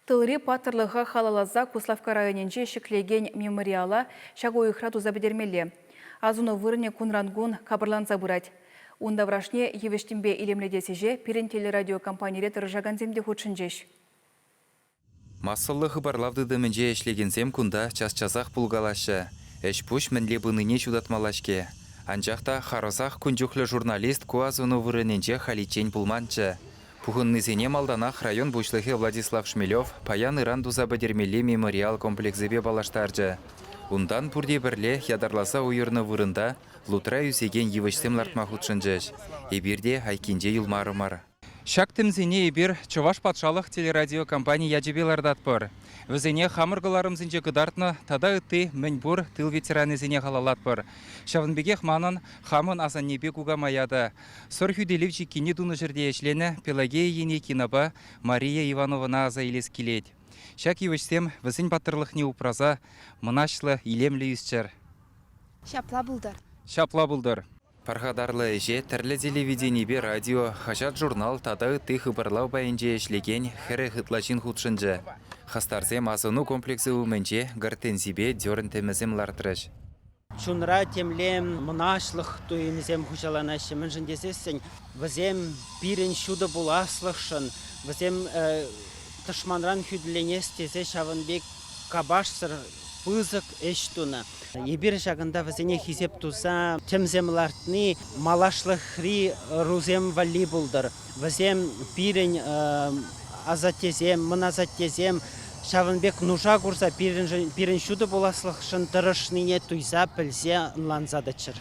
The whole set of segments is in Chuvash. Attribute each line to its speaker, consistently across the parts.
Speaker 1: Тылри паттӑрлӑха халалласа Куславкка районӗнче ҫӗклекен мемориала ҫак уйӑхра туса пӗтермелле. Асӑну вырӑнӗ кунран-кун капӑрланса пырать. Ун таврашне йывӑҫ-тӗмпе илемлетес ӗҫе пирӗн телерадиокомпанире тӑрӑшакансем те хутшӑнчӗҫ.
Speaker 2: Массӑллӑ хыпарлав тытӑмӗнче ӗҫлекенсем кунта час-часах пулкалаҫҫӗ, ӗҫ-пуҫ мӗнле пынине ҫутатмалла-ҫке. Анчах та харӑсах кун чухлӗ журналист ку асӑну вырӑнӗнче халиччен пулманччӗ. Пухӑннисене малтанах район пуҫлӑхӗ Владислав Шмелев паян-ыран туса пӗтермелли мемориал комплексӗпе паллаштарчӗ. Унтан пурте пӗрле ятарласа уйӑрнӑ вырӑнта лутра ӳсекен йывӑҫсем лартма хутшӑнчӗҫ. Эпир те айккинче юлмарӑмӑр. Ҫак тӗмсене эпир Чӑваш патшалӑх телерадиокомпани ячӗпе лартатпӑр. Вӗсене хамӑр кӑларӑмсенче кӑтартнӑ тата ытти мӗнпур тыл ветеранӗсене халаллатпӑр. Ҫавӑн пекех манӑн хамӑн асаннепе кукамая та, Сӑр хӳтӗлев чиккине тунӑ ҫӗрте ӗҫленӗ Пелагея ене кинопа Мария Ивановӑна аса илес килет. Ҫак йывӑҫсем, вӗсен паттӑрлӑхне упраса, мӑнаҫлӑ, илемлӗ ӳсчӗр. Ҫапла
Speaker 3: пултӑр! Ҫапла пултӑр!
Speaker 2: Пархатарлӑ ӗҫе тӗрлӗ телевиденипе радио, хаҫат-журнал тата ытти хыпарлав пайӗнче ӗҫлекен хӗрӗх ытла ҫын хутшӑнчӗ. Хастарсем асӑну комплексӗ умӗнче гортензипе дёрн тӗмӗсем лартрӗҫ. Чунра
Speaker 4: темле мӑнаҫлӑх туйӑмӗсем хуҫаланаҫҫӗ, мӗншӗн тесессӗн вӗсем пирӗн ҫутӑ пуласлӑхшӑн, вӗсем тӑшманран хӳтӗленес тесе ҫавӑн пек капашсӑр пысӑк ӗҫ тунӑ. Эпир ҫакӑнта вӗсене хисеп туса тӗмсем лартни малашлӑхри ӑрусем валли пултӑр. Вӗсем пирӗн асаттесем, мӑн асаттесем ҫавӑн пек нуша курса пирӗн ҫутӑ пуласлӑхшӑн тӑрӑшнине туйса, пӗлсе, ӑнланса тӑччӑр.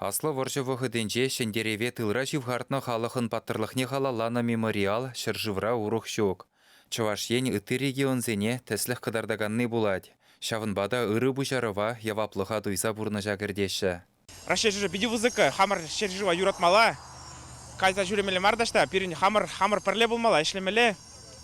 Speaker 4: Аслӑ вӑрҫӑ
Speaker 2: вӑхӑтӗнче Ҫӗнтерӗве тылра ҫывхартнӑ халӑхӑн паттӑрлӑхне халалланӑ мемориал ҫӗршывра урӑх ҫук. Чӑваш Ен ытти регионсене тӗслӗх кӑтартаканни пулать, ҫавӑнпа та ырӑ пуҫарӑва, яваплӑха туйса пурнӑҫа кӗртеҫҫӗ. Раҫҫей ҫӗршывӗ питӗ
Speaker 5: пысӑк. Хамӑр ҫӗршыва юратмалла, кайса ҫӳремелле мар та ҫта. Пирӗн хамӑр хамӑр пӗрле пулмалла, ӗҫлемелле,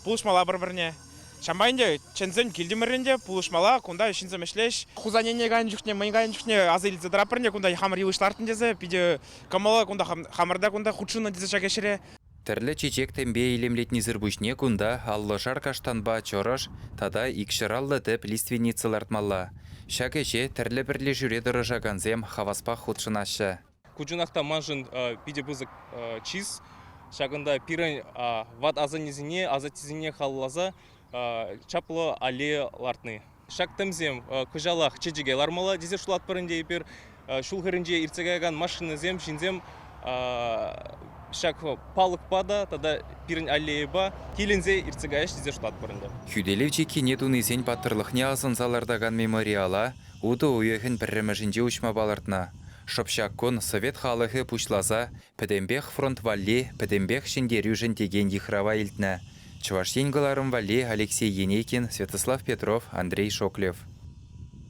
Speaker 5: пулӑшмалла пӗр-пӗрне. Ҫапла ӗнтӗ чӗнсен килтӗмӗррӗн те пулӑшмалла. Кунта ҫынсем ӗҫлӗҫ. Хусанене кайнӑ чухне, мӗн кайнӑ чухне аса илсе тӑратпӑр ӗнтӗ, кунта хамӑр йывӑҫ лартнӑ тесе. Питӗ кӑмӑллӑ кунта хамӑр та кунта хутшӑннӑ тесе ҫак ӗҫре. Тӗрлӗ чечек-тӗмпе
Speaker 2: илемлетнисӗр пуҫне кунта аллӑшар каштанпа чӑрӑш тата икҫӗраллӑ тӗп лиственница лартмалла. Ҫак ӗҫе тӗрлӗ пӗрлешӳре тӑрӑшакансем хаваспах хутшӑнаҫҫӗ. Ку чунах та
Speaker 6: маншӑн питӗ пысӑк чыс. Ҫакӑнта пирӗн ват асаннесене, асаттесене халалласа чаплӑ аллея лартни. Ҫак тӗмсем кӑҫалах чечеке лармалла тесе шутлатпӑр ӗнтӗ эпир. Ҫул хӗрринче иртсе каякан машинӑсем, ҫынсем ҫак палӑкпа та тата пирӗн аллейӑпа киленсе иртсе каяҫҫӗ тесе шутлатпӑр ӗнтӗ. Хӳтӗлев чиккине
Speaker 2: тунисен паттӑрлӑхне асӑнса лартакан мемориала утӑ уйӑхӗн пӗрремӗшӗнче уҫма палӑртнӑ. Шӑпчак кун Совет халӑхӗ пуҫласа Пӗтӗмпех фронт валли, пӗтӗмпех ҫӗнтерӳшӗн текен йыхрава илтнӗ Чӑваш Ен кӑларӑм валли Алексей Енейкин, Святослав Петров, Андрей Шоклев.